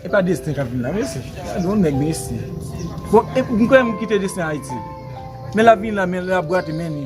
E pa Destin kap vin la mesi. Gade yon nèg mesi. Bon e m kwè m kite Destin Ayiti. Men lap vin la men lap gwate men li.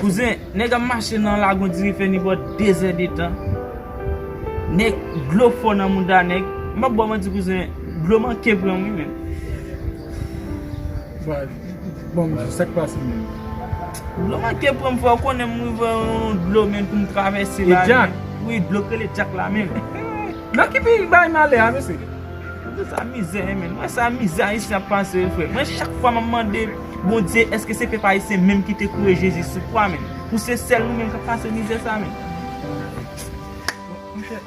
Kouzen, nèg ap mache nan lagon diri fè ni bò 2 zè de tan. Nèg, dlo fò nan mouda nèg. M pap ba w manti kouzen, dlo manke pran wi menm. Bon, bon kouzen, sa k pase menm? Dlo manke pran m frè, ou konnen m rive yon dlo menm pou m travèse la. E djak? Wi, dlo k rele djak la menm. Dlo ki pi bay malè a mesye? Gade sa mizè e menn. Wè sa mizè ayisyen ap pase yo frèm. Mwen chak fwa map mande Bondye eske se pèp ayisyen menm ki te kouye Jezi sou kwa menm. Pou se sèl nou menm kap pase mizè sa menm. Monchè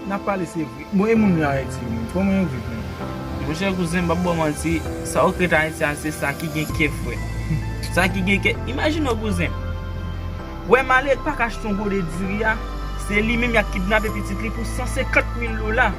nap pale se vre. Bon e moun yo ayiti yo menm koman yo viv menm. Monchè kouzen m pap baw manti sa ou k ret ayiti a se sa ki gen kè frè. Sa ki gen kè. Imajine w kouzen. Wè malere k paka achte yon gode diri a. Se li menm yap kidnape pitit li pou 150 mil dola.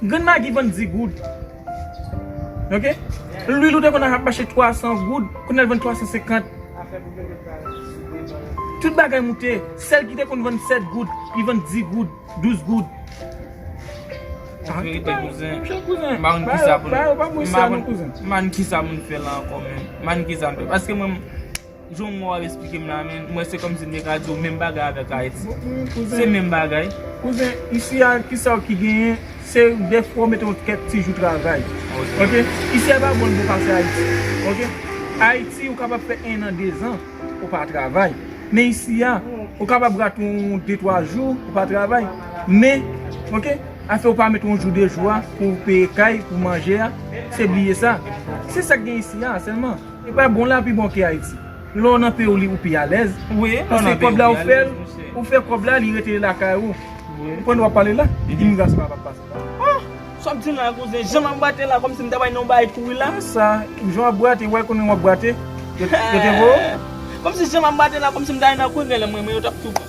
Grann magi vann 10 goud ok lwil ou te konn ap mache 300 goud kounya l vann 350 tout bagay moute sèl ki te konn vann 7 goud li vann 10 goud 12 goud anverite kouzen m pa konn kisa pou m fè la ankò menm m pa konn kisa pou m fè la ankò menm m pa konn kisa pou m fè paske mwen m Jan ou ap esplike m la men, mwen se kòmsi m te ka di w menm bagay avèk Ayiti. Se menm bagay. Kouzen, isi a ki sa ki genyen, se defwa ou mete yon kèk ti jou travay. Ok. Isi a pa bon bon pase Ayiti. Ok. Ayiti ou kapab fè ennan, dezan ou pa travay. Men isi a, ou kapab rate yon de twa jou ou pa travay. Men, ok, afè ou pa mete yon jou de jou a pou peye kay, pou manje a, se bliye sa. Se sa ki gen isi a sèlman. E pa bon la pi bon ke ayiti. Lè w nan peyi w li ou pi alèz. Paske kòb la ou fè l, ou fè kòb la li rete lakay ou. Ou konn wap pale la, imigrasyon la pap pase la. Ohh! Sa w ap di la kouzen, jan m ap brate la kòmsi m ta bay non bagay kouri la. Ki sa? Jan w ap brate, wè konbyen w ap brate? Yo te voye w? Kòmsi jan m ap brate la kòmsi m ta ale nan kouri genlè m renmen yo t ap tou.